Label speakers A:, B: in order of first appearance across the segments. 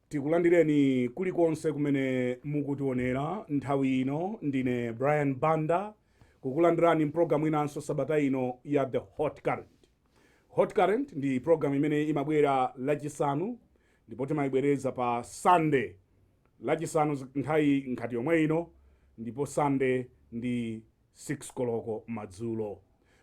A: tikulandireni kulikonse kumene mukutionera nthawi ino ndine brian banda kukulandirani mpulogalamu inanso sabata ino ya the hot current hot current ndi pulogalamu imene imabwera lachisanu Ndipo timaibwereza pa Sande, Lachisanu nthawi ngati yomwe ino, ndipo Sande ndi 6 koloko madzulo.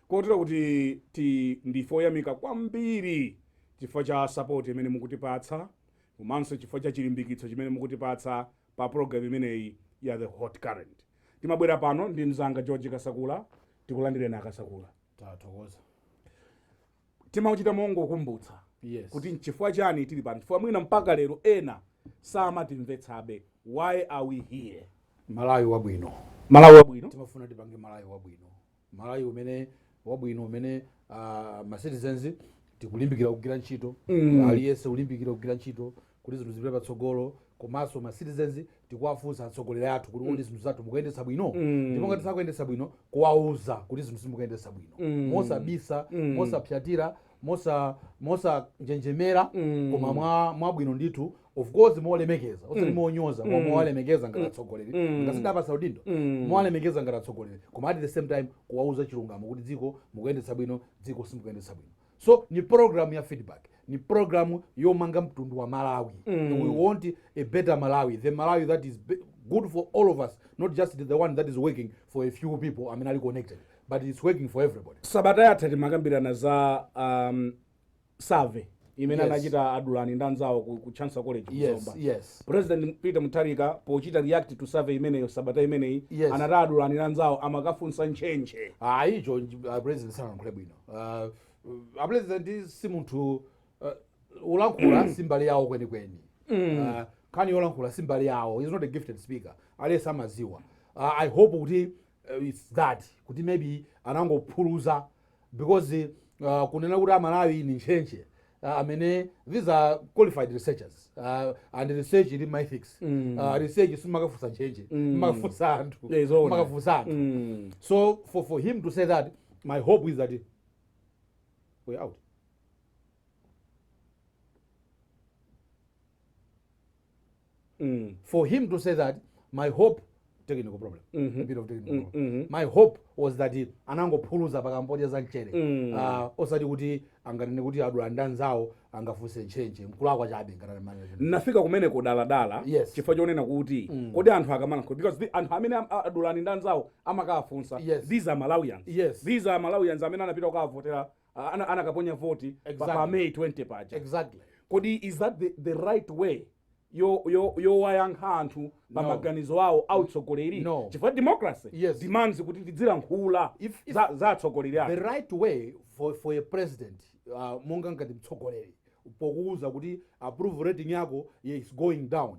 A: Kotero kuti ti, ndife oyamika kwambiri chifukwa cha sapoti imene mukutipatsa komanso chifukwa cha chilimbikitso chimene mukutipatsa pa pulogalamu imeneyi ya The Hot Current. Timabwera pano ndi mzanga George Kasakula. Tikulandireni a Kasakula. Tathokoza. timauchita mongokumbutsa yes. kuti nchifukwa chani tili pano chifukwa mwina mpaka lero ena samatimvetsabe why are we here malawi wabwino
B: malawi
A: wabwino timafuna tipange
B: malawi wabwino malawi umene wabwino umene uh, ma citizens tikulimbikira kugwira ntchito mm. aliyense kulimbikira kugwira ntchito kuti zinthu zipite patsogolo komanso ma citizens tikuwafunsa atsogoleri athu kuti kodi zinthu zathu mukuyendetsa bwino Mm. ndipo ngati sakuyendetsa bwino kuwauza kuti zinthu simukuyendetsa bwino Mm. mosabisa Mm. mosapsatira mosa mosanjenjemera Mm. koma mwa mwabwino ndithu of course molemekeza osati monyoza koma Mm. mowalemekeza ngati atsogoleri Mm. ngati tidapatsa udindo Mm. mowalemekeza ngati atsogoleri koma at the same time kuwauza chilungamo kuti dziko mukuyendetsa bwino dziko simukuyendetsa bwino so ni program ya feedback ni program yomanga mtundu wa malawi mm. we want a better malawi the malawi that is be- good for all of us not just the one that is working for a few people amene ali connected but it's working for everybody sabata yatha timakambirana
A: za um, survey imene Yes. anachita adulani ndi anzawo ku, ku chancellor college ku yes Zomba.
B: yes president peter mutharika
A: pochita react to survey imeneyo sabata imeneyi Yes. anati adulani ndi anzawo amakafunsa ntchentche ah icho uh,
B: president sanankhule bwino uh, apulezidenti si munthu uh, ulankhula si mbali yawo kwenikweni uh, nkhani yolankhula si mbali yawo he's not a gifted speaker aliyense amadziwa uh, i hope kuti uh, it's that kuti maybe anangophuluza because uh, kunena kuti amalawi ni ntchentche uh, amene these are qualified researchers uh, and research ili mythics Mm. uh, research simakafunsa ntchenje Mm. makafunsa anthu Yeah, zoona. makafunsa anthu Mm. so for, for him to say that my hope is that we're out mm. for him to say that my hope technical problem mm -hmm. a bit of technical mm -hmm. problem mm-hmm. my hope was that anangophuluza paka mpodya za mchere mm. uh, osati kuti anganene kuti adulani ndi anzawo angafunse ntchentche mkulakwa chabe nafika
A: kumene kudandaula yes. chifukwa chonena kuti mm. kodi anthu akamalankhula because the, anthu amene adulani ndi anzawo amakafunsa yes. these are malawians yes. these are malawians amene anapita kukavotera ah, ana- anakaponya voti pa- pa Exactly. may 20 paja exactly
B: kodi is
A: that the, the right way yo- yo- yowayankhira anthu pa No. maganizo awo autsogoleri No. chifukwa democracy Yes. demands kuti tidzilankhula If- if- za- za atsogoleri athu the right
B: way for, for a president uh, monga ngati mtsogoleri pokuwuza kuti approval rating yako is going down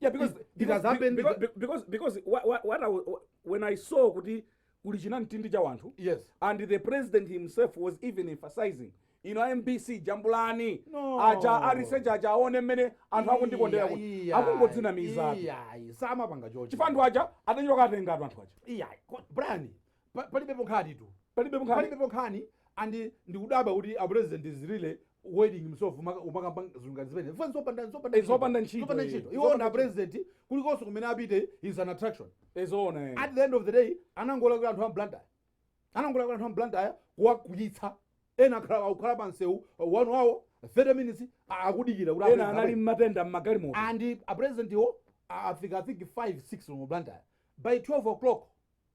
B: yeah,
A: because, it, because, has happened
B: because, because,
A: because, because what, what, what I, when i saw kuti kuli chinamtindi cha wanthu yes and the
B: president
A: himself was even emphasizing ino a mbc jambulani No.
B: aja a research
A: aja aone mmene anthu akundikondera kuti Iya, iya, akungodzinamiza iya, iya, samapanga
B: choncho chifukwa anthu aja atenyoka
A: atenga anthu anthu aja iya ko- brian
B: Pa- palibepo nkhani tu palibepo nkhani palibepo nkhani and ndikudabwa kuti a president is really wasting himself umaka- umakamba zinthu ngati zimene Mfana zopanda- zopanda Eh, zopanda ntchito,
A: zopanda eh. ntchito iwo Zopanda monga
B: president kulikonse kumene apite is an attraction eh zoona eh. at the
A: end of the day
B: anangolakwitsa anthu a m'Blantyre anangolakwitsa anthu a m'Blantyre kuwakwiyitsa ena akhala akukhala pa msewu one hour 30 minutes a- akudikira kuti ena apite anali amene.
A: matenda mmagalimoto and a president
B: wo a- afika i think 5 6 mu blantyre by 12 o'clock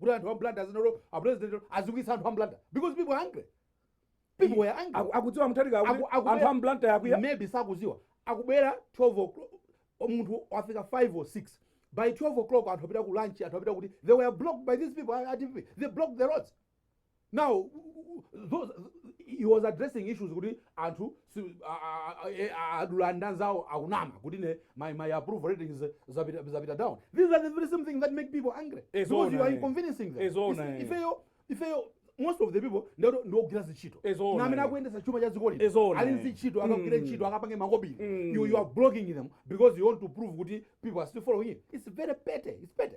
B: kuti anthu a m'Blantyre azinolo apresident azunzitsa anthu a m'Blantyre because people are angry people were angry Aku- akudziwa mutharika Aku- akuti
A: akubwera- anthu a m'Blantyre akwiya maybe sakudziwa
B: akubwera 12 o'clock munthu wafika 5 or 6 by 12 o'clock anthu apita ku lunch anthu apita kuti they were blocked by these people a- a DPP. they blocked the roads Now those he was addressing issues kuti anthu si- a- a- a- e- a- adani anzawo akunama kuti ine my, my approval ratings zapita zapita down these are the very same thing that make people angry Eh, because zoona, you are eh. inconveniencing them Eh, zoona, Isi- eh. ifeyo ifeyo most of the people ndi o- ndi ogwira zintchito Eh, zoona, ndi amene eh. akuyendetsa chuma cha dzikoli Eh, zoona, ali eh. zintchito akagwire ntchito akapange makobiri Mm. you, you are blocking them because you want to prove kuti people are still following you it's very petty it's petty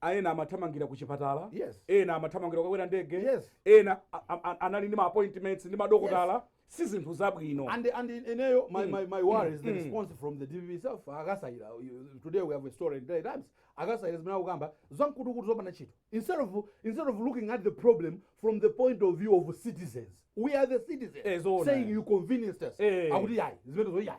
A: a ena amathamangira ku chipatala Yes. ena amathamangira kukakwera ndege Yes. ena a- a- a- anali ndi ma appointments ndi madokotala si zinthu zabwino And and in- ineyo
B: my, my, my worry is the response from the DPP itself a Kasaila You- today we have a story in Daily Times a Kasaila zimene akukamba zamkutukutu zopanda ntchito instead of instead of looking at the problem from the point of view of citizens we are the citizens Eh, zoona. saying you inconvenienced us Eh. akuti yayi zimenezo yayi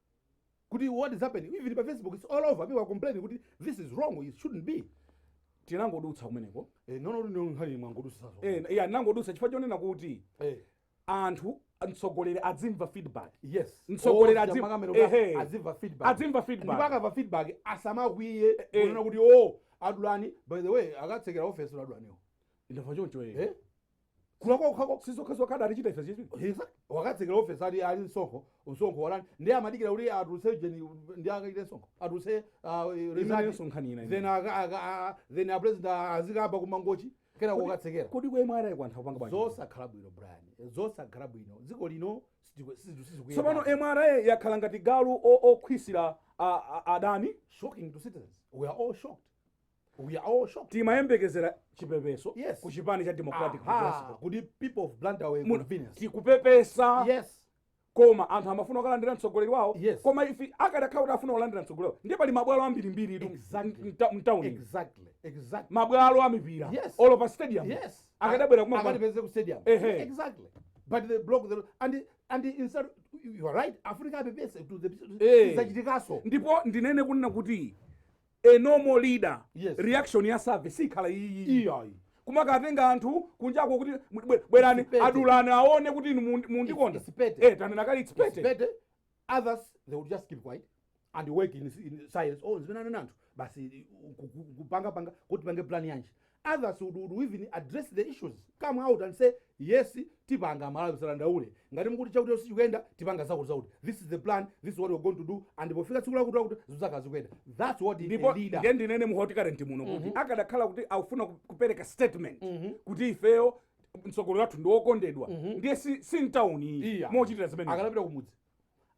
B: kuti what is happening even pa facebook it's all over people are complaining kuti this is wrong it shouldn't be tinangodutsa
A: kumeneko eh no no ndi nkhani mwangodutsazo eh
B: yeah, tinangodutsa chifukwa chonena kuti
A: eh anthu mtsogoleri adzimva feedback yes
B: Mtsogoleri Oh, adzi- chama
A: kamera kuti ehe.
B: adzimva feedback Adzimva feedback. ndipo
A: akamva
B: feedback asamakwiye Eh. kunena kuti oh adulani by the way akatsekere office adulaniwo ndamva choncho eh
A: eh
B: kulakwa kukhako sizokhazokha
A: adatichita ife zizi Hiza, wakatsekera
B: ofesi ali ali msonkho msonkho waulani ndiye amadikira kuti atulutse ujeni ndiye akaitane msonkho atulutse ah, result. imenenso nkhani ina then imene. aka- aka- a- then a president azikaba kumangochi kena kukatsekera kodi kwa imwe awayi angathe
A: kupanga bwanji zosakhala bwino
B: brian zosakhala bwino dziko lino sitiku- situ- sizikuyenda. tsopano mra
A: yakhala ngati galu o- okhwisira a- a- adani shocking to
B: citizens we are all shocked We are all shocked.
A: timayembekezera chipepeso Yes. ku chipani
B: cha democratic
A: Aha, Progressive. kuti people of
B: Blantyre were Mu- inconvenienced.
A: tikupepesa Yes.
B: koma anthu
A: amafuna kukamulandira mtsogoleri wawo Yes. koma ife
B: akadakhala
A: kuti afuna kulandira mtsogoleri wawo ndiye pali mabwalo ambirimbiri itu Exactly. mta- mtauni
B: Exactly. Exactly. mabwalo
A: a mipira Yes. olo pa
B: stadium
A: Yes. akadabwera
B: kumati
A: akatipeze ku stadium
B: Ehe. exactly but they block the road and and instead you are right africa apepese to the Eh. zachitikaso ndipo ndinene
A: kunena kuti A normal leader Yes. reaction
B: yake
A: sikhala iyiyi iyayi kumakatenga anthu kunjako kuti mu- bwe- bwerani It's petty. adulani aone kuti inu mundi- mundikonda It's- it's petty. Eh, tanena kale it's It's petty. petty.
B: others they will just keep quiet and work in, in silence oh zimene anena anthu basi ku- ku- kupanga kupanga kuti tipange plan yanji others would would even address the issues come out and say yes tipanga amalawi musadandaule ngati mukuti chakuti sichikuyenda tipanga zakuti zakuti this is the plan this is what we're going to do and pofika tsiku lakuti lakuti zizakhala zikuyenda that's what is a leader ndipo ndinene mu Hot
A: Current muno kuti akadakhala kuti akufuna ku- kupereka statement kuti ifeyo mtsogoleri wathu ndi wokondedwa ndiye si si mtawuni iyi Iya. mochitira zimene akadapita kumudzi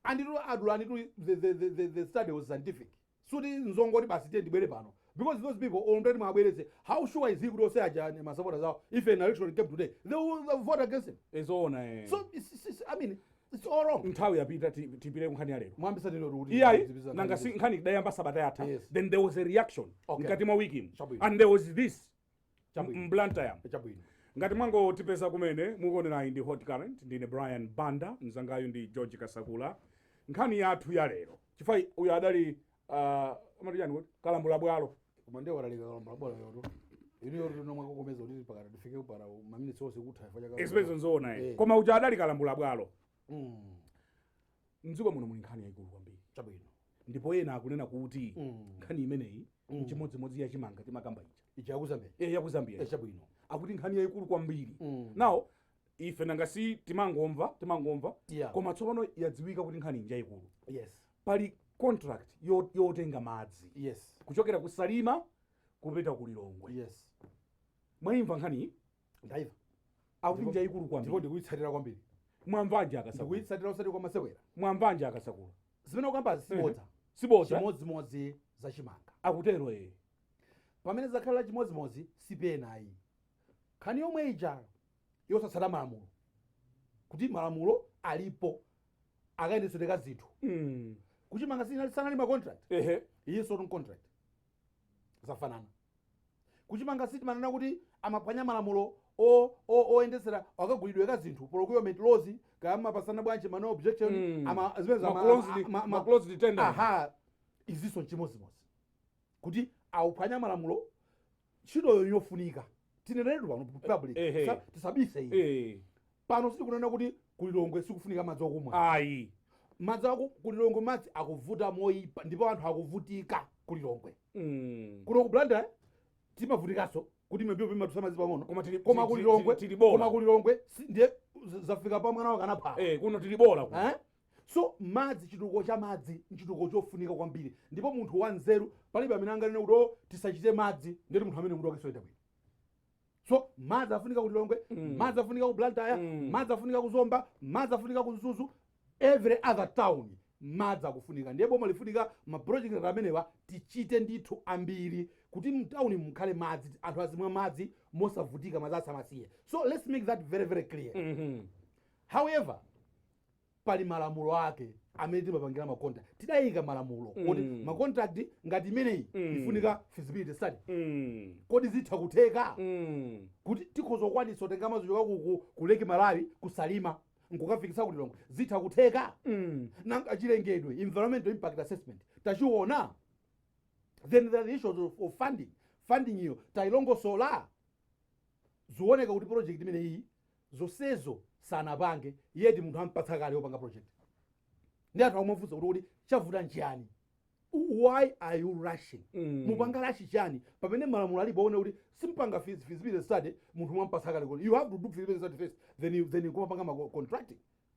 B: and to adulani to the, the, the, the, the study was scientific suti nzongoti basi tiye ndibwere pano because those people amene ati mwabweretse how sure is he kuti ose aja ni masapota awo if an election came today they will they will vote against him ezoona eh. so
A: it's, it's, it's, i
B: mean it's all wrong nthawi yapita
A: ti- tipite kunkhani ya lero mwambisa tino kuti
B: iyayi nanga nkhani si nkhani
A: tidayamba sabata yatha Yes. then there was a reaction Chabwino. mblantyre chabwino ngati mwangotipeza kumene mukuonerayi ndi hot current ndine brian banda mzangayu ndi george kasakula nkhani yathu ya lero chifukwa uyu adali uh, amati chani kuti kalambula bwalo koma ndiye watalika
B: kalambula bwalo wotalika lero mwakokomeza kuti pakati tifike mpaka maminitsi onse kutha chifukwa cha kalambula. expense nzoona Eh.
A: koma uja adali kalambula bwalo Mm. mdziko muno muli nkhani yayikulu kwambiri chabwino
B: ndipo ena
A: akunena kuti Mm. nkhani imeneyi Mm. nchimodzimodzi ya chimanga timakamba ija ija yakuzambia
B: e yakuzambia Eh, chabwino
A: akuti
B: nkhani yayikulu
A: kwambiri Mm. nawo ife nanga si timangomva timangomva Yeah. koma tsopano yadziwika kuti nkhani nja yayikulu yes pali contract yo- yotenga madzi yes kuchokera ku salima kupita ku lilongwe yes mwaimva nkhani
B: ndaiva
A: akuti njayikulu ndipo kwambiri ndikuyitsatira
B: kwambiri mwamvanji a
A: Kasakula ndikuyitsatira usati kwa
B: masewera mwamvanji a
A: Kasakula zimene ukamba
B: zisibodza sibodza
A: chimodzimodzi
B: za chimanga akutero ee pamene zakhala chimodzimodzi sipenayi nkhani yomwe ija yosatsata malamulo kuti malamulo alipo akayendetsedwe ka zinthu Mm. kuchimanga sinali sanali ma contract ehe iyinso ndi contract zafanana kuchimanga si timanena kuti amaphwanya malamulo o- o- oyendetsera akagulidwe ka zinthu procurement laws kaya amapatsana bwanji ma no objection Mm. ama zimene za- Ma
A: closed- ama- ama- ma closed tender. aha
B: izinso nchimodzimodzi kuti akuphwanya malamulo ntchitoyo njofunika tineneretu pano public Ehe. Tisa- tisabise iyi Eh, Pano sitikunena kuti ku Lilongwe sikufunika madzi okumwa ayi.
A: Madzi aku
B: ku Lilongwe madzi akuvuta moyipa ndipo anthu akuvutika ku Lilongwe. Kuno ku Blantyre timavutikaso kuti mipope imatulutsa madzi pang'ono koma tili koma ku Lilongwe tili bola koma ku Lilongwe ndiye zafika pa mwana wakana phala. Eh
A: kuno
B: tili bola kuno. Eh? So madzi chitukuko cha madzi nchitukuko chofunika kwambiri ndipo munthu wanzeru palibe amene anganene kuti oh tisachite madzi ndeti munthu ameneyo mutu wake soyenda bwino. so madzi afunika ku lilongwe Mm. madzi afunika ku blantyre Mm. madzi afunika ku zomba madzi afunika ku mzuzu every other town madzi akufunika ndiye boma lifunika maproject ngati amenewa tichite ndithu ambiri kuti mtawuni mukhale madzi anthu azimwa madzi mosavutika madzi asamasiye so let's make that very very clear Mhm. however pali malamulo ake amene timapangira ma contract tidayika malamulo mm. kuti ma contract ngati imeneyi mm. ifunika feasibility study mm. kodi zitha kutheka mm. kuti tikhoza kukwanisa kutenga madzi kuchoka ku, ku lake malawi ku salima nkukafikisa ku lilongwe zitha kutheka mm. nanga chilengedwe environmental impact assessment tachiona then there are issues of, of funding funding iyo tayilongosola Zikuoneka kuti project imeneyiyi zonsezo sanapange yet munthu ampatsa kale yopanga project nde anthu akumafunsa kuti kodi chavuta nchiyani why are you rushing Mm. mupanga rush chani pamene malamulo alipo one kuti simpanga fees- feasibility study munthu mwampatsa kale koma you have to do feasibility study first then you, then you kumapanga ma contracting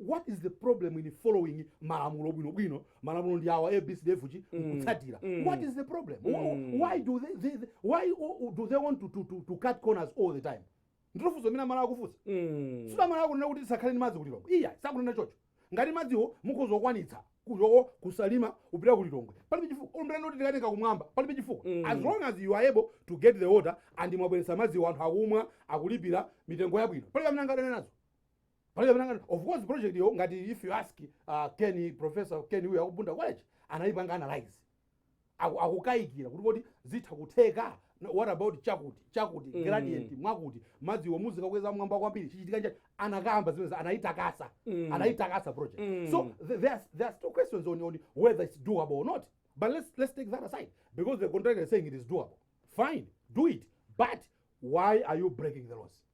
B: what is the problem in following malamulo bwino bwino malamulo ndi awa abcdefg kutsatira Mm. what is the problem Wh- Mm. why do they, they, they why o- do they want to, to, to, to cut corners all the time ndilo funso limene amalawi akufunsa Mm. sikuti amalawi akunena kuti tisakhale ndi madzi ku lilongwe iyayi sakunena chocho ngati madziwo mukhoza kukwanitsa kuchoka ku salima kupita ku lilongwe palibe chifukwa olo munena kuti tikatenga kumwamba palibe chifukwa Mm. as long as you are able to get the water and mwabweretsa madziwo anthu akumwa akulipira mitengo yabwino palibe amene angadane nazo palibe amene angati of course project yo ngati if you ask uh, ken professor ken uyu waku bunda college anayipanga analyze Aku- akukayikira kuti kodi zitha kutheka No, what about chakuti chakuti Mm. gradient mwakuti madziwo muzikakweza mwamba kwambiri chichitika nchani anakamba zimene anayitakasa Mm. anayitakasa project Mm. so th- there are, there are still questions on, on whether it's doable or not but let's, let's take that aside because the contractor is saying it is doable fine do it but why are you breaking the laws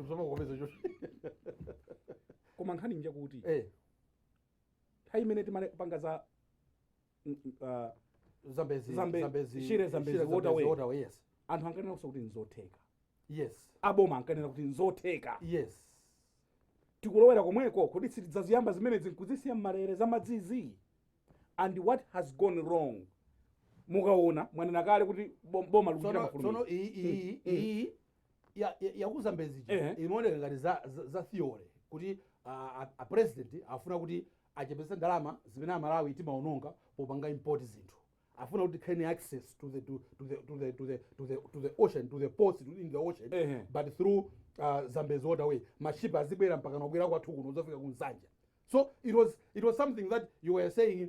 B: Usamangopeza
A: choncho. koma nkhani njakuti Eh, nthawi imene timapanga za mm, mm, ah, Zambezi, Zambe- Zambezi, Shire Zambezi, Shire Waterway. Waterway, yes. anthu ankanena
B: kuti
A: nzotheka Yes.
B: aboma ankanena
A: kuti nzotheka
B: Yes.
A: tikulowera komweko kodi sitidzaziyamba zimenezi nkuzisiya mmalere za madzizi and what has gone wrong mukaona mwanena kale kuti bom- boma likuchita Sono, sono mafulumira iyi, iyi, iyi,
B: ya, ya, ya ku zambezi ija Ehe. imaoneka ngati za, za, za theory kuti a, a, a president afuna kuti achepetse ndalama zimene amalawi timaononga popanga import zinthu afuna kuti tikhale ni access to the, to, to the, to the, to the, to the, to the ocean to the ports to- in the ocean Ehe. but through uh, zambezi waterway mashipa azibwera mpaka nobwera kwathu kuno kuzafika ku nsanje so it was, it was something that you were saying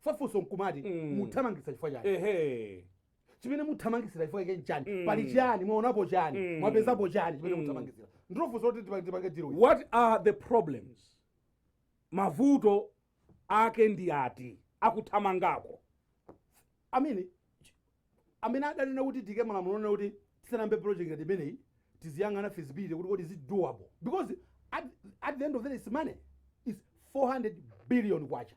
B: fa funso nkumati Mm. muthamangitsa chifukwa chani ehe chimene muthamangitsira chifukwa chake nchani Mm. pali chani mwaonapo chani Mm. mwapezapo chani chimene Mm. muthamangitsira ndilo funso loti tipa- tipange deal ili. what are the
A: problems mavuto ake ndi ati
B: akuthamangako amene ch- amene adanena kuti tiike malamulo onena kuti tisanayambe project ngati imeneyi tiziyang'ana feasibility kuti kodi is it doable because at, at the end of the day it's money is 400
A: billion kwacha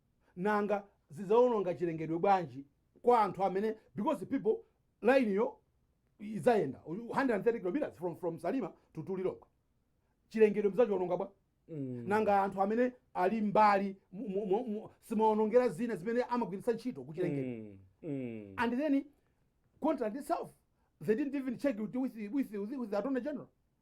B: nanga zidzaononga chilengedwe bwanji kwa anthu amene because people line yo idzayenda 130 kilometers from, from salima to to lilongwe chilengedwe mzachiwononga bwa mm. nanga anthu amene ali mbali mu- mu- mu- mu- simaonongera zina zimene amagwiritsa ntchito kuchilengedwe mm. Mm. and then contract itself they didn't even check it with, with, with, with the attorney general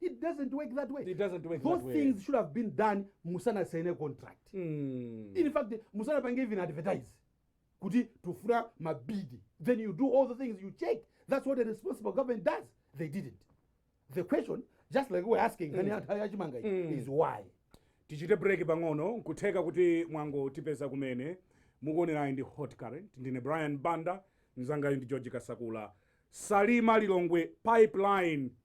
B: It doesn't work that way. It doesn't work Those that way. things
A: should have been done
B: musana sign a contract. Mm. In fact, musana pange even advertise. Kuti tufura mabidi. Then you do all the things you check. That's what a responsible government does. They didn't. The question, just like we're asking, mm. mm. is why? tichite break
A: pang'ono nkutheka kuti mwango tipeza kumene mukuonerayi ndi hot current ndine brian banda mzangayo ndi george kasakula salima lilongwe pipeline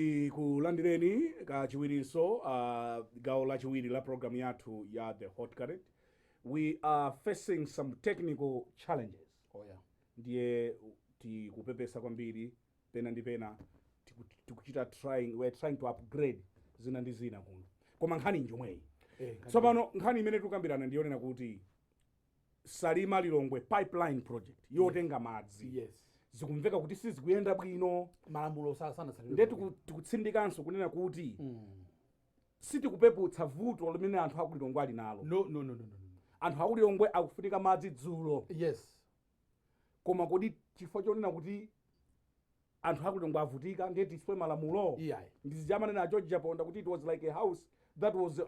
A: tikulandireni kachiwirinso uh, gawo lachiwiri la programu yathu ya the hot current we are facing some technical challenges Oh yeah.
B: ndiye
A: tikupepesa kwambiri pena ndi pena tiku- tikuchita trying we're trying to upgrade zina ndi zina kuno koma nkhani njomweyi tsopano nkhani imene tikukambirana ndiyonena kuti salima lilongwe pipeline project yotenga madzi yes zikumveka
B: kuti
A: sizikuyenda bwino malamulo sa-
B: sanatsatidwe nde tiku-
A: tikutsindikanso kunena kuti sitikupeputsa vuto limene anthu akulilongwe ali nalo no no no no no no.
B: anthu akulilongwe
A: akufunika madzi dzulo yes koma kodi chifukwa chonena kuti anthu akulilongwe avutika ndiye tiswe malamulo Iyayi. ndizija amanena
B: george
A: chaponda kuti it was like a house that was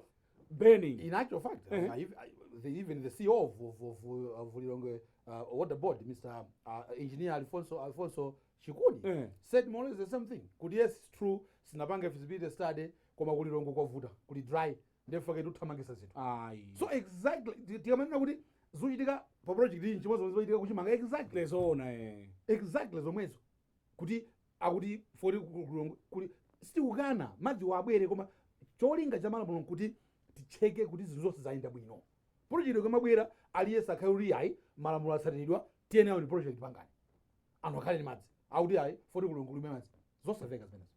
A: burning In actual fact, uh,
B: if, uh, the, even the CEO of, of, of, uh, of Lilongwe uh, Water Board, Mr. Uh, Engineer Alfonso, Alfonso Chikuni, Eh. said more or less the same thing. Kuti yes, it's true, sinapange feasibility study, koma kulilongwe kwavuta, kuli dry. ndiye fake tuthamangisa zinthu ayi so exactly ti- tikamanena kuti zochitika pa project iyi nchimodzi zomwe zochitika kuchimanga exactly nzoona eh
A: exactly
B: zomwezo kuti akuti poti kuli sitikukana madziwa abwere koma cholinga cha malamulo nkuti ticheke kuti zinthu zonse zayenda bwino project ikamabwera aliyense akhale kuti iyayi malamulo atsatiridwa tiyeni nayo ndi project pangani anthu akhale ndi madzi akuti ayi poti kulilongwe kulibe madzi zosatheka
A: zimenezo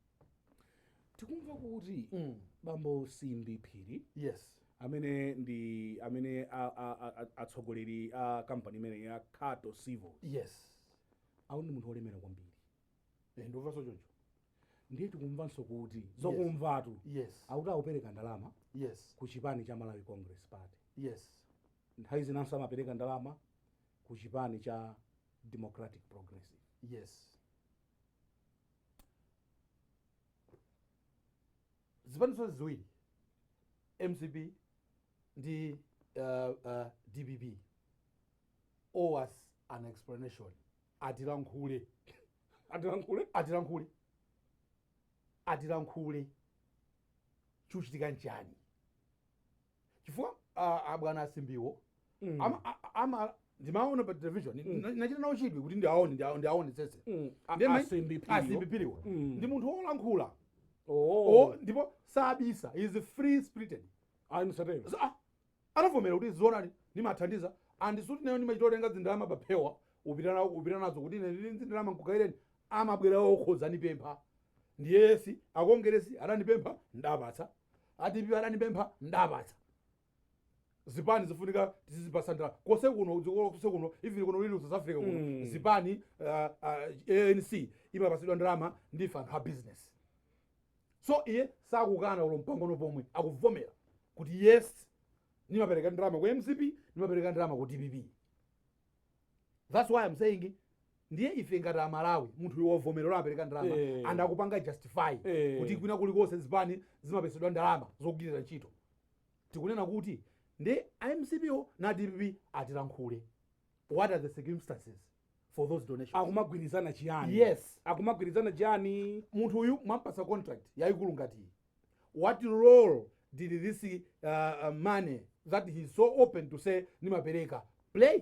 A: tikumva kuti Mm. bambo simbi phiri yes amene
B: ndi
A: amene a- a- a- a- atsogoleri a kampani imene ya khato civils
B: yes akuti ndi
A: munthu wolemera kwambiri Eh,
B: ndikumvanso choncho
A: ndiye tikumvanso kuti zokumvatu yes akuti
B: akupereka ndalama
A: yes ku chipani
B: cha malawi
A: congress party yes
B: nthawi zinanso
A: amapereka ndalama ku chipani cha Democratic Progressive. Yes.
B: Zipani zonse ziwiri mcp ndi uh, uh, dpp owe us an explanation atilankhule atilankhule atilankhule atilankhule chuchitika nchani chifukwa ah, abwana asimbiwo Mm. ama- a- a- ama- ndimaona pa television Mm. na- nachita nawo chidwi kuti ndiaone ndiaone- ndiaonetsetse Mm. A- Ndiye mai- asimbi
A: phiriwo. asimbi phiriwo
B: Mm. ndi munthu wolankhula Oh. O, ndipo sabisa he is free spirited anisatero So, ah, anavomera kuti zoonadi ndimathandiza and sikuti ineyo ndimachita kutenga zindalama paphewa kupita nawo- kupita nazo kuti ine ndili ndi zindalama nkugaireni amabwera okha kuzandipempha and yes akongeresi anandipempha ndapatsa a dpp anandipempha ndapatsa zipani zifunika tizizipasa ndalama kose kuno dziko kose kuno even kuno ndili ku south africa kuno Mm. zipani uh, uh, anc imapasidwa ndalama ndife anthu a business so iye sakukana olo mpang'ono pomwe akuvomera kuti yes nimapereka ndalama ku mcp nimapereka ndalama ku dpp that's why i'm saying ndiye ife ngati amalawi munthu uyu wavomera kuti apereka ndalama Eh. and akupanga justify Eh. kuti kwina kulikonse zipani zimapatsidwa ndalama zogwirira ntchito tikunena kuti ndi a mcp na dpp atilankhule what are the circumstances for those donations akumagwirizana
A: chiyani yes
B: akumagwirizana
A: chiyani munthu uyu
B: mwampasa contract yayikulu ngati iyi what role did this uh, uh, money that he is so open to say ndimapereka play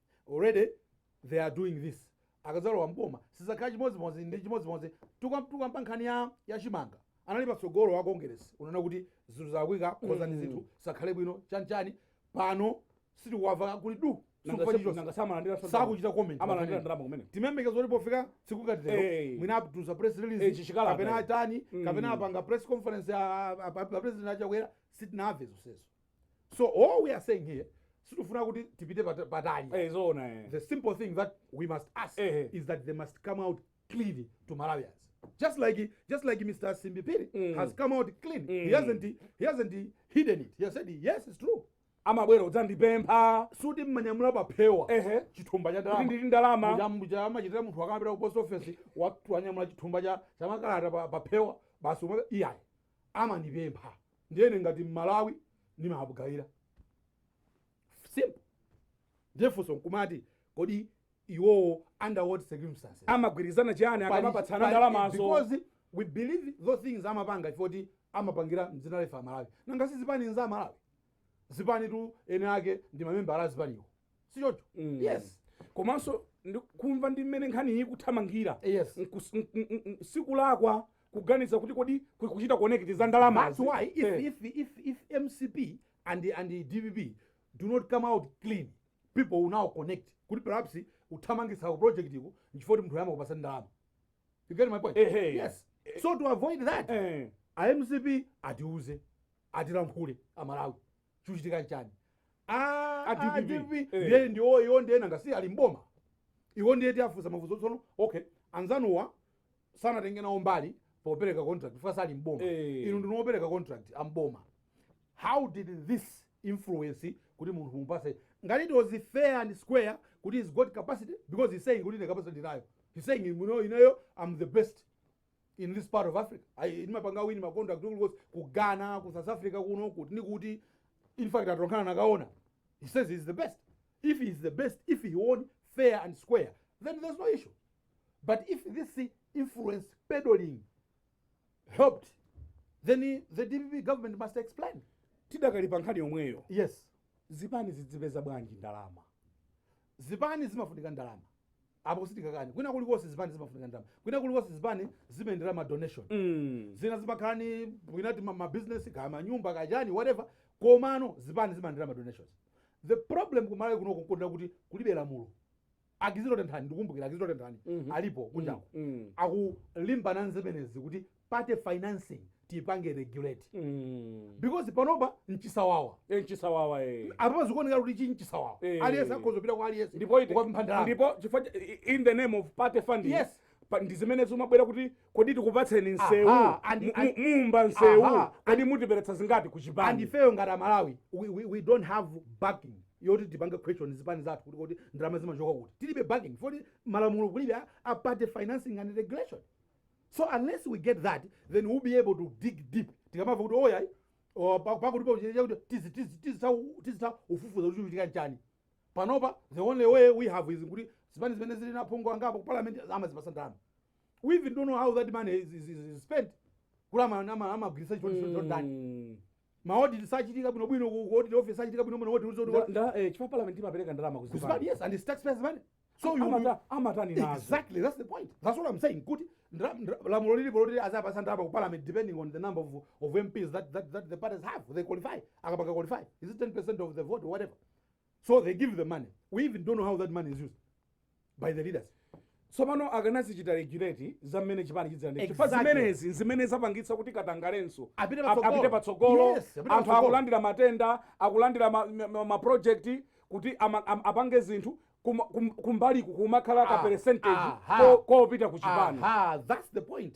B: already they are doing this akadzalowa mboma sizakhala chimodzimodzi ndi chimodzimodzi tikakamba nkhani ya ya chimanga anali patsogolo wa congress unaona kuti zinthu zakwika konzani zinthu zikhale bwino chanichani pano sitikuwamva kuli du sitikumva chilichonse nanga si amalandira sodoma. sakuchita comment amalandira ndalama
A: kumene timayembekeza kuti
B: pofika tsiku ngati Eh. lero mwina atulutsa press Eh, release chichikalata. kapena atani Mm. kapena apanga press conference a- a- a- a president a Chakwera sitinamve zonsezo so all we are saying here sitifuna kuti tipite pat- patali Eh, zoona eh. the simple thing that we must ask Ehe. is that they must come out clean to Malawians. Just like just like Mr. Simbi Phiri Mm. has come out clean. He Mm. hasn't he hasn't hidden it. He has said yes, it's true. amabwera kudzandipempha
A: sikuti
B: ndimanyamula paphewa ehe chithumba cha kuti ndalama. ndili ndalama muja
A: mu cha amachitira munthu
B: akapita ku post office watu anyamula chithumba cha cha makalata pa paphewa basi umwe iyayi amandipempha. ndiye ine ngati mmalawi ndimawagayira simple ndiye funso nkumati kodi iwowo under what circumstances amagwirizana chiyani
A: Pali- akamapatsana pali- ndalamazo because
B: we believe those things amapanga chifoti amapangira mdzina la ife amalawi nanga si zipani nza amalawi zipanitu ene ake ndi mamembala a zipaniwo si choncho Mm. yes
A: komanso ndi- kumva ndi mmene nkhani ikuthamangira yes Nkus-
B: n- n-
A: n- sikulakwa kuganiza kuti kodi ku- kuchita connect za ndalama that's why if,
B: Eh. if, if, if mcp and, and dpp do not come out clean people will now connect kuti perhaps kuthamangitsako project iko nchifukwa kuti munthuyu amakupatsa ndalama you get my point Ehe. yes so to avoid that Eh. a mcp atiuze atilankhule amalawi chikuchitika nchani Ah, A DPP. adpp Eh. ndiye ndiwo iwo ndiye nanga si ali mboma iwo ndiye tiafunsa mafunso tsono okay anzanuwa sanatenge nawo mbali popereka contract chifukwa sali mboma Eh. inu ndi opereka contract amboma how did this influence kuti munthu mumpatse ngati it was fair and square kuti he's got capacity because he's saying kuti ine capacity ndili nayo he's saying you know, ineyo am the best in this part of africa Ayi, ndimapanga win ma contract kulikonse ku ghana ku south africa kuno kuti ndi kuti in fact atolankhani anakaona he says he is the best if he is the best if he won fair and square then there's no issue but if this influence peddling helped then the dpp government must explain tidakali pa nkhani
A: yomweyo yes
B: zipani zidzipeza
A: bwanji ndalama zipani
B: zimafunika ndalama apo sitikakani kwina kulikonse zipani zimafunika ndalama kwina kulikonse zipani zimayendera ma donation Mm. zina zimakhala ni kwinati mabizinesi kaya manyumba kaya chani whatever komano zipani zimayendera ma donations the problem ku Malawi kuno kokondera kuti kulibe lamulo a Kizito Tenthani ndikumbukira a Kizito Tenthani Mhm. alipo kunjako Mm. akulimbana nzemenezi kuti party financing tiipange regulate Mm. because panopa nchisawawa Eh,
A: nchisawawa eh. apapa
B: zikuoneka kuti chi nchisawawa Eh. aliyense akhoza kupita kwa aliyense ndipo iti- kukapempha ndalama ndipo
A: chifukwa cha- i- in the name of party funding Yes. pa- ndi zimene
B: zimabwera
A: kuti kodi tikupatseni nsewu Aha, and- Mu- and- mu- muumba nsewu Aha. kodi mutiperekera zingati ku chipani and ifeyo ngati
B: amalawi we, we, we don't have backing yoti tipange question zipani zathu kuti kuti ndalama zimachoka kuti tilibe backing foti malamulo kulibe a- a party financing and regulation So unless we get that then we'll be able to dig deep tikamava kuti o iyayi pakutipo chachitika chakuti tizi- tizi- tizitha- tizitha kufufuza kuti chachitika nchani panopa the only way we have is kuti zipani zimene zili ndi aphungu angapo ku parliament amazipasa ndalama we even don't know how that money is, is, is, is spent kuti ama- ama- amagwiritsa chifukwa chifukwa ndi Mm. ma audit sachitika bwino bwino ku ku audit office sachitika bwino bwino woti uzo Nda- nda- eh, chifukwa
A: parliament imapereka ndalama kuzipani kuzipani yes and it's taxpayers
B: money so you Amata- amatani nazo exactly
A: that's the point
B: that's what i'm saying kuti ndra- ndra- lamulo lilipo loti azapasa ndalama ku parliament depending on the number of, of mps that, that, that the parties have they qualify akapanga qualify is it 10 percent of the vote or whatever so they give the money we even don't know how that money is used by the leaders tsopano
A: akanazichita regulate za mmene chipani chidzilandira chifukwa Exactly. zimenezi nzimene zapangitsa kuti katangalenso Apite ap- patsogolo. apite patsogolo Yes, apite anthu patsogolo. akulandira matenda akulandira ma- ma- ma- maprojekti kuti ama- am- apange zinthu kuma- kum- kumbaliku kumakhala ka Ah, percentage aha. ko- kopita ku chipani aha that's the point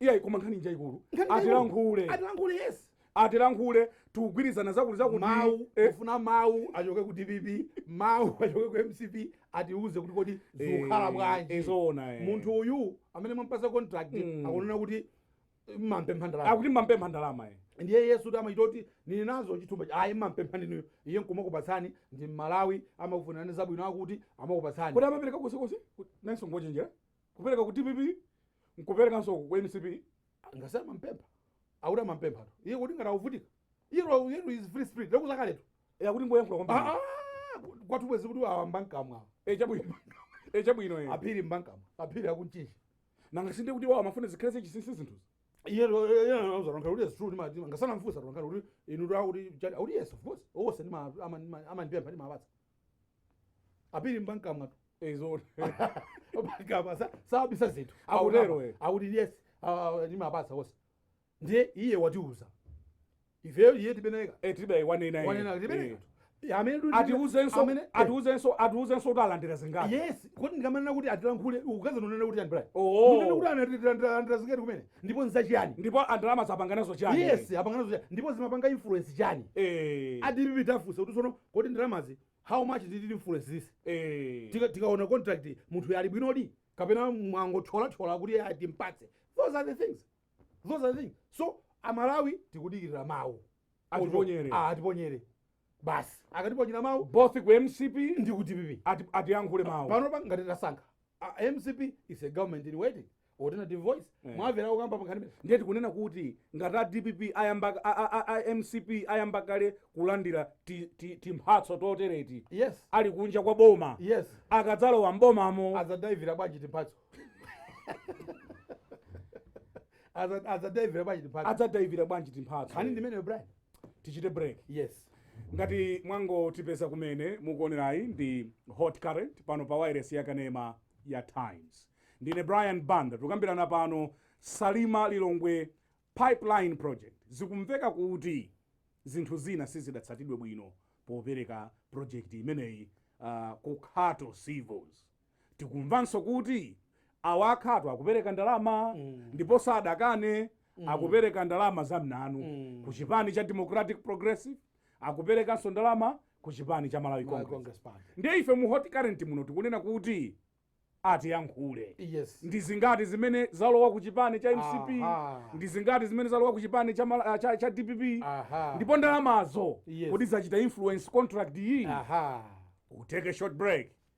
A: iyayi koma nkhani njayikulu Nkhani njayikulu. atilankhule atilankhule yes atilankhule tikugwirizana zakuti zakuti mawu eh,
B: kufuna mawu achoke ku dpp mawu achoke ku mcp atiuze kuti kodi zikukhala eh, bwanji eh, zoona eh. munthu
A: uyu
B: amene mwampasa contract Mm. akunena kuti mampempha ndalama akuti mampempha
A: ndalama eh. ndiye iye sikuti
B: amachita kuti nili nazo chithumba cha- ayi mampempha ndinuyo iye nkumakupatsani ndi mmalawi amakufunirani zabwino akuti amakupatsani kuti amapereka konsekonse
A: nanso ngochenjera kupereka ku dpp nkuperekanso ku mcp ngati
B: amampempha akuti amampempha to iye kuti ngati akuvutika iye lwa- iye lwa is free spirit lekuzakaletu e akuti ngoyankhula
A: kwambiri kwathu bwezi
B: kuti a wambankamwa e chabwino
A: e
B: chabwino
A: e aphiri mbankamwa
B: aphiri akunchinji nanga si
A: nde kuti iwowo amafuna
B: zikhale
A: zachinsinsi zinthuzi iye
B: lozankhale kuti yesu ndi matima ngati sanamufunse nkomwe kuti inu takuti chati akuti yes of course onse ndima- ama- ndi ma- amandipempha ndimawapatsa a phiri mbankamwa tu
A: eetu
B: mbankamwa sabisa zinthu Akutero, eh. akuti yes ah, ndimapatsa onse ndiye iye watiuza ifeyo iye tibeneka Eh, tibe wanena iye. wanena
A: Eh. tibeneka
B: amene tu- atiuzenso amene-
A: eh, atiuzenso atiuzenso kuti alandira zingati yes kodi
B: ndikamanena kuti atilankhule kukadzanena kuti andibriber Oh. kunena kuti analandira zingati kumene ndipo nzachiyani ndipo ndalamazo apanga
A: nazo chani yes apanga nazo chani ndipo
B: zimapanga influence chani Eh. a dpp tafunsa kuti tsono Kodi ndalamazi how much did it influence this eeh tikaona contract munthuyu ali bwinodi kapena mwangothyolathyola kuti eya timpatse those are the things those are the things so amalawi tikudikirira mawu Atiponyere. Ah, atiponyere basi akatiponyera mawu both ku mcp
A: ndi ku dpp ati-
B: atiyankhule
A: pano pa ngati tasankha
B: A mcp is a government in waiting alternative voice Eh. mwamvera kukamba pankhani ndiye tikunena
A: kuti ngati a dpp ayamba a- a- a- a mcp ayamba kale kulandira ti- ti- timphatso totereti yes ali
B: kunja kwa
A: boma yes
B: akadzalowa
A: mbomamo adzadaivira bwanji
B: timphatso Adza- adzadaivira bwanji timphatso adzadaivira bwanji timphatso nkhani ndi imeneyo brian tichite
A: break yes ngati mwangotipeza kumene mukuonerayi ndi hot current pano pa wailesi ya kanema ya times ndine brian banda tikukambirana pano salima lilongwe pipeline project zikumveka kuti zinthu zina sizidatsatidwe bwino popereka project imeneyi uh, ku khato civils tikumvanso kuti awa a khato akupereka ndalama ndipo sadakane akupereka ndalama zamnanu ku chipani cha democratic progressive akuperekanso ndalama ku chipani cha malawi Malawi congress Congress Party. ndiye ife mu hot current muno tikunena kuti atiyankhule Yes.
B: ndi zingati
A: zimene zalowa ku chipani cha mcp Aha. ndi zingati zimene zalowa ku chipani cha, mala- cha, cha dpp Aha. ndipo ndalamazo Yes. kodi zachita influence contract iyi Aha. we'll take a short break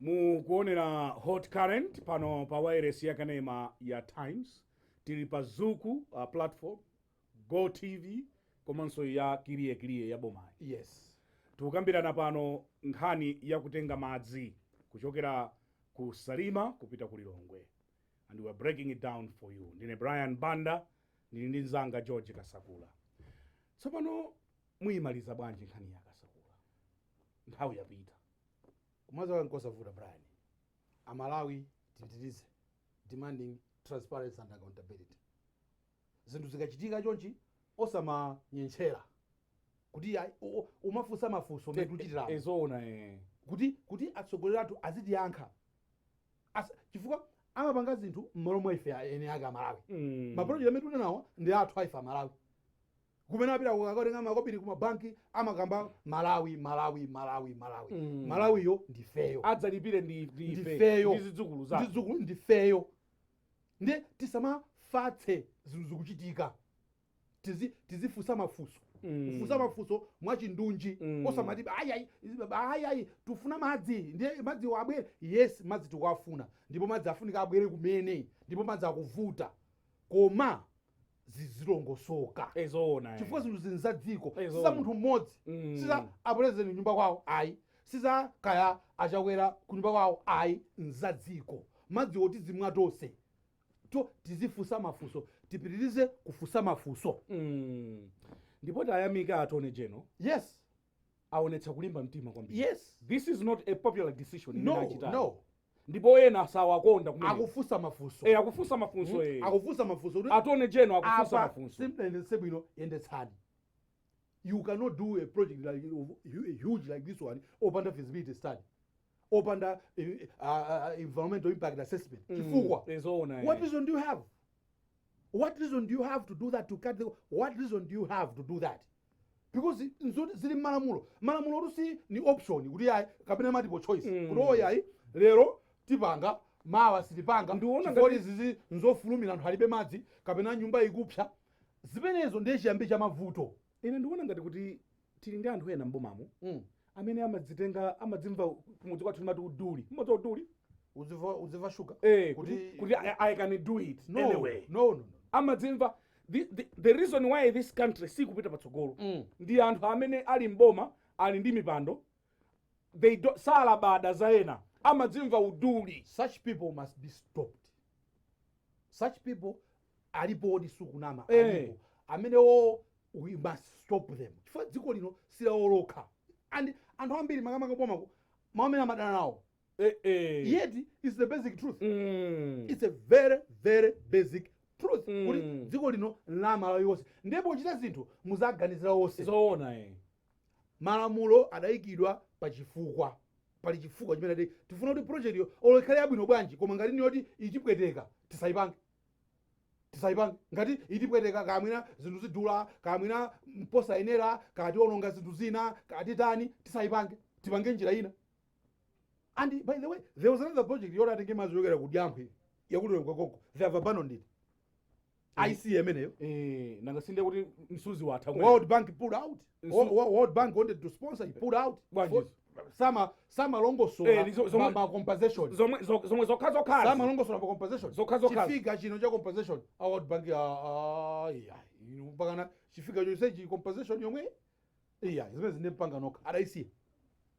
A: mukuonera hot current pano pa wailesi ya kanema ya times tili pa zuku uh, platform Go Tv komanso ya Kiliye Kiliye ya bomayi.
B: Yes. Tikukambirana
A: pano nkhani ya kutenga madzi kuchokera ku Salima kupita ku Lilongwe and we are breaking it down for you. Ndine Brian Banda ndili ndi mzanga George Kasakula. Tsopano muimaliza bwanji nkhaniyi a Kasakula? Nthawi yapita. Kumaliza
B: kwake nkosavuta Brian. Amalawi tipitirize demanding transparency and accountability. Zinthu zikachitika chonchi osamanyetchera kuti iyayi, u- u- umafunsa mafunso mmene tikuchitiramo eh zoona
A: eh. kuti kuti
B: atsogoleri athu azitiyankha Asa- chifukwa amapanga zinthu mmalo mwa ife a- eni ake amalawi Mm. mapulojekti amene tili nawo ndi athu aife amalawi kumene apita kukatenga makobiri ku mabanki amakamba malawi malawi malawi malawi Mm. malawiyo ndifeyo adzalipire ndi ndi
A: ife, ndifeyo ndi zidzukulu zathu ndi zidzukulu ndifeyo
B: Ndiye tisamafatse zinthu zikuchitika. Tizi tizifunsa mafunso. Kufunsa mm. mafunso mwachindunji mm. osamati ayi ayi ayi ayi tifuna madzi ndiye madziwo abwere. Yes, madzi tikuwafuna ndipo madzi afunika abwere kumene ndipo madzi akuvuta. Koma zizilongosoka Eh, zoona
A: eh. chifukwa zinthuzi nza
B: dziko Eh, si za zoona. munthu mmodzi Mm. si za apulezidenti nyumba kwawo ayi si za kaya achakwera ku nyumba kwawo ayi nza dziko madzi oti tizimwa tonse so tizifunsa mafunso tipitirize kufunsa mafunso Mm.
A: ndipo tayamika Attorney General yes aonetsa kulimba mtima kwambiri yes this is
B: not a
A: popular decision imene no achitayi.
B: no ndipo
A: ena sawakonda kumene akufunsa mafunso Eh,
B: akufunsa mafunso
A: eh. akufunsa mafunso kuti
B: Attorney General
A: akufunsa apa mafunso simuyendetsa bwino
B: yendetsani you cannot do a project like of- hu- huge like this one opanda feasibility study opanda eh, uh, uh, environmental impact assessment chifukwa Eh, zoona eh. what reason do you have what reason do you have to do that to cut the, what reason do you have to do that because nzoti zili mmalamulo malamulotu si ni option kuti ayi kapena multiple choice mm. kuti iyayi lero tipanga mawa sitipanga Ndiona chifukwa ngati- izizi nzofulumira anthu alibe madzi kapena nyumba ikupsa zimenezo ndiye chiyambi cha mavuto ine ndikuona ngati kuti
A: tili ndi anthu ena m'bomamu Mm. amene amadzitenga amadzimva kumudzi kwathu timati uduli mmodzi uduli kudzimva kudzimva
B: shuga eh, kuti kuti kuti
A: I, i can do it no anyway no no no amadzimva the, the, the reason why this country sikupita patsogolo Mm. ndi anthu amene ali mboma ali ndi mipando they do, salabada za ena amadzimva uduli such people must
B: be stopped such people alipo oti sukunama Eh. alipo amenewo we must stop them chifukwa dziko lino silawo lokha and anthu ambiri makamaka boma mmene amadana nawo Eh, eh. yet it's the basic truth Mm. it's a very very basic truth Mm. kuti dziko lino nla amalawi onse ndi pochita zinthu muziwaganizira onse zoona
A: eh.
B: malamulo adayikidwa pa chifukwa pali chifukwa chimene ati tifuna kuti project olo ikhale yabwino bwanji koma ngati niyoti itipweteka tisaipange tisaipange ngati itipweteka kaya mwina zinthu zidula kaya mwina mposayenera kaya tiwononga zinthu zina kaya titani tisaipange tipange njira ina and by the way there was another project yoti atenge madzi yochokera ku Diamphwe yakulira kwakonko they have abandoned it ic imeneyo Eh, nanga
A: sindiye kuti msuzi watha kumene. world bank pulled out
B: Wo- Nsu- wo- world bank wanted to sponsor he pulled out Bwanji? Fo- sama Eh, samalongosola ni zo- zomwe- ma- ma compensation zomwe zo- zomwe zokha
A: zokhazi samalongosola pa compensation
B: Zokha zokhazi. chi figure chino cha compensation a world bank ah, ah, iya inu mpakana chi figure chonse cha compensation yomwe iya zimene zinde pangani nokha adaisiya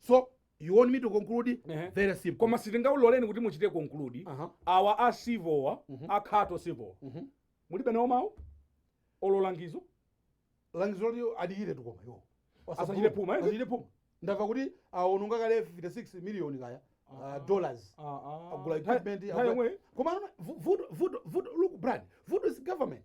B: so you want me to conclude Ehe. very simple koma sitingauloleni
A: kuti muchite conclude Aha. awa a Civil-wa a Khato Civil-wa Mhm. mulibe nawo mawu olo
B: langizo langizo loti adikire tukoma yo Asachite phuma,
A: eh? asachite phuma ndamva
B: kuti awononga kale 56 million kaya uh, dollars agula equipment agula- koma anona, vu- vuto vuto vuto look Brian vuto is government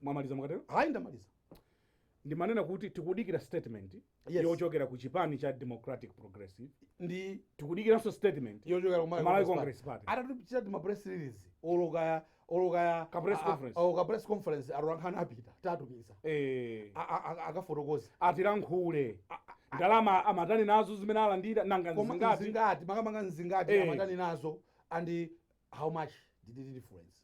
A: Mwamaliza mukatero? Ayi
B: ndamaliza.
A: Ndimanena kuti tikudikira statement yes. yochokera ku chipani cha Democratic Progressive ndi
B: tikudikiranso statement
A: yochokera ku Malawi
B: Congress Party
A: atatichitira ma press
B: release olo kaya olo kaya ka press conference
A: oh ka press
B: conference atolankhani apita tatumiza eh akafotokoza
A: atiyankhule ndalama amatani nazo zimene alandira nanga zingati zingati makamanga
B: zingati eh. amatani nazo and how much did it difference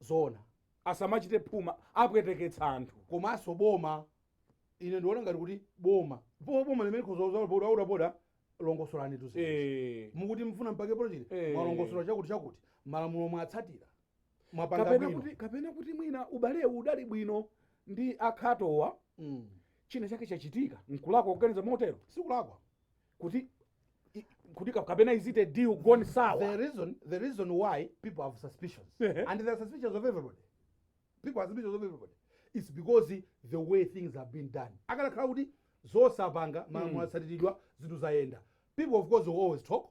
B: zoona
A: asamachite phuma apweteketsa anthu komanso
B: boma ine ndiona ngati kuti boma po boma limene khozautapoda longosolanitu izi Eh. mukuti mufuna mpange project Eh. mwalongosola chakuti chakuti malamulo mwatsatira mwapanga kapena bwino kuti kapena kuti
A: mwina ubalewu udali bwino ndi a Khatowa Mm. china chake chachitika nkulakwa kuganiza motero sikulakwa
B: kuti
A: i- kuti ka- kapena is it a deal gone the sour reason the reason
B: why people have suspicions Ehe. and there are suspicions of everybody people have suspicions of everybody it's because the way things have been done akanakhala kuti zonse apanga malamulo atsatiridwa zinthu zayenda people of course will always talk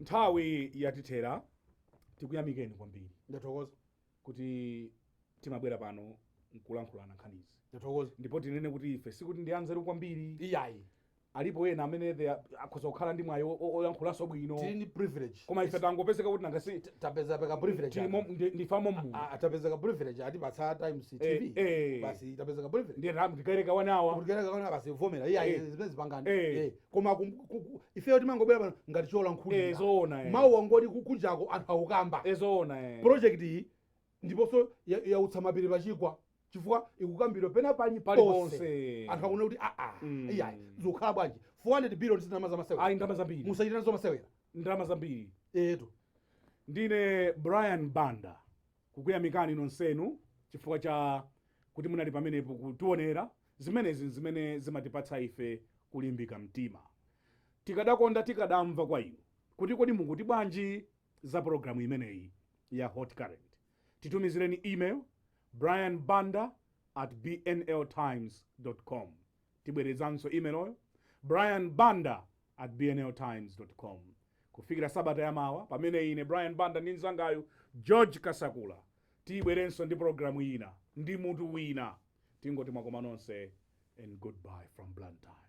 A: Nthawi yatithera, tikuyamikeni kwambiri.
B: Ndathokoza.
A: kuti timabwera pano nkulankhulana nkhani izi. Ndathokoza. Ndipo tinene
B: kuti ife
A: sikuti ndi anzeru kwambiri. Iyayi.
B: Alipo ena
A: amene they are- akhoza kukhala ndi mwayi o- o- oyankhulanso bwino. Tili ndi privilege.
B: Koma ife
A: tangopezeka kuti nanga si tapezapo ka
B: privilege. tili mom- ndi- ndife
A: amommu. Ah, ah, tapeza ka
B: privilege atipatsa Times TV. eh. Basi tapeza ka privilege. Ndiye tamu tikayere kabaza.
A: Kulikera kaona basi vomera.
B: Iyayi Eh. zimene zipangani. Eh. Eh. koma kum- ku- ku- ifeyo timangobwera pano ngati Eh, cholankhulira zoona eh. mau awo
A: oti ku-
B: kunjako anthu akukamba Eh, zoona eh.
A: project
B: iyi ndiponso ya- yautsa mapiri pachigwa chifukwa ikukambidwa pena pali- paliponse ponse anthu akuona kuti aa Mm. iyayi zikukhala bwanji 400 billion si ndalama zamasewera ayi ndalama zambiri
A: musachita nazo
B: masewera ndalama
A: zambiri
B: etu ndine brian
A: banda kukuyamikani nonsenu chifukwa cha kuti munali pamenepo kutionera Zimenezi n'zimene zimatipatsa ife kulimbika mtima. Tikadakonda tikadamva kwa inu kuti kodi mukuti bwanji za pulogalamu imeneyi ya Hot Current. Titumizireni email, brian banda at bnl times dot com. Tibwerezanso emailyo, brian banda at bnl times dot com. Kufikira sabata ya mawa pamene ine Brian Banda ndi mnzangayu George Kasakula tibwerenso ndi pulogalamu ina ndi mutu wina. Tingoti mwakoma nonse and good bye from Blantyre.